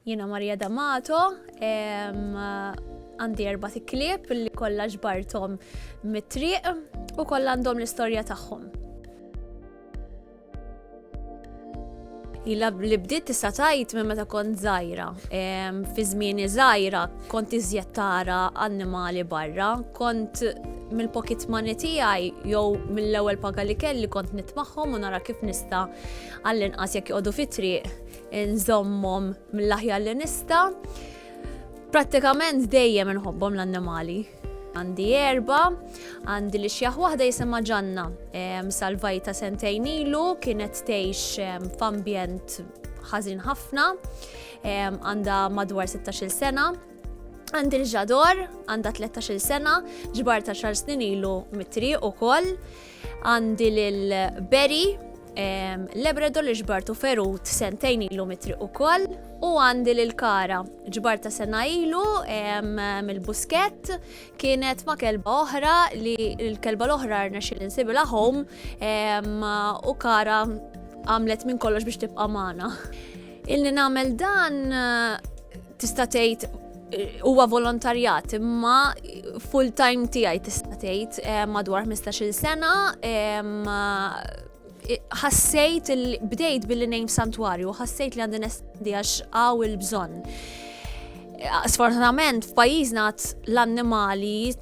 Jiena Maria D'Amato, għandi erba' tiklib li kollha ġbarthom mit-triq u kollha għandhom l-istorja tagħhom. Ila li bdiet tista' tajt minn meta kont żgħira. Fi żmieni żgħira kont iżjed tara annimali barra, kont mill-pocket money tiegħi jew mill-ewwel paga li kelli kont nitmagħhom u nara kif nista' għall-inqas jekk joqogħdu fit-triq Nżommhom mill-aħjar li nista'. Prattikament dejjem inħobbhom l-annimali. Għandi erba, għandi li xjaħ waħda jisimha ġanna. Salvajta sentejn ilu, kienet tgħix f'ambjent ħażin ħafna, għandha madwar 16-il sena. Għandi l-ġador, għandha 13-il sena, ġbarta xar snin ilu mit-triq ukoll. Għandi lil Berry, Labrador li ġbartu ferut sentejn ilu mitri u koll, u għandi lil Kara, ġbarta sena ilu mill-busket, kienet ma kelba oħra li l-kelba l-oħra rna xil insibila home u Kara għamlet minn kollox biex tibqa' magħna. Illi nagħmel dan Tista' tgħid huwa volontarjat imma full time tiegħi tista' tgħid eh, madwar 15-il sena ħassejt bdejt billi ngħid santwarju, ħassejt li għandi nesti għax għaw il-bżonn. Sfortunatament f'pajjiżna l-annimali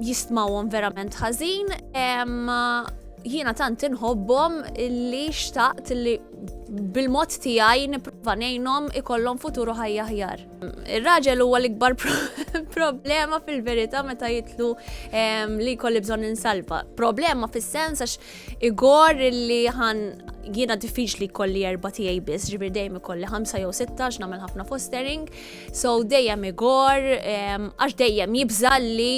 jistmawhom verament ħażin. Jiena tant inħobbhom li xtaqt li bil-mod tiegħi nipprova ngħinhom ikollhom futuru ħajja ħjar. Ir-raġel huwa l-ikbar problema fil-verità meta jitlu li jkolli bżonn insalva. Problema fis-sens għax igor li ħan jiena diffiċli kolli erba tiegħi biss, ġifier dejjem ikolli ħamsa jew sittax nagħmel ħafna fostering, So dejjem igor, għax dejjem jibża li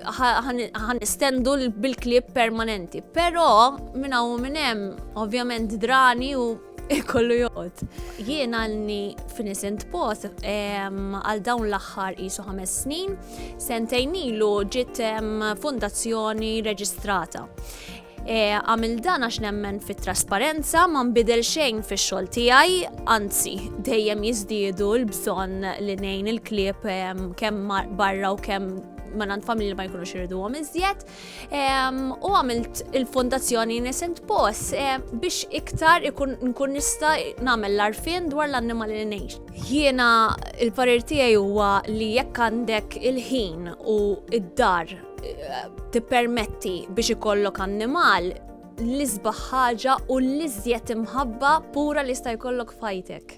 ħan istendu bil-klib permanenti. Pero minn hawn minn hemm ovvjament drani u kollu joqgħod. Jien għalni f'Innocent Post għal dawn l-aħħar isu ħames snin, sentejn ilu ġiet fondazzjoni reġistrata. E, għamil dan għax nemmen fit trasparenza ma nbidel xejn fix xogħol tiegħi, anzi dejjem jiżdiedu l-bżonn li nejn il-klieb kemm barra u kemm manan familji ma jkunux irridu għom iżjed. U għamilt il-fondazzjoni Innocent Paws biex iktar ikun nkun nista namel l-arfin dwar l-annimali li nejx. Jiena il-parir tiegħi huwa li jekk għandek il-ħin u id-dar tippermetti biex ikollok annimal l-isbaħ ħaġa u l-iżjed imħabba pura li sta jkollok fajtek.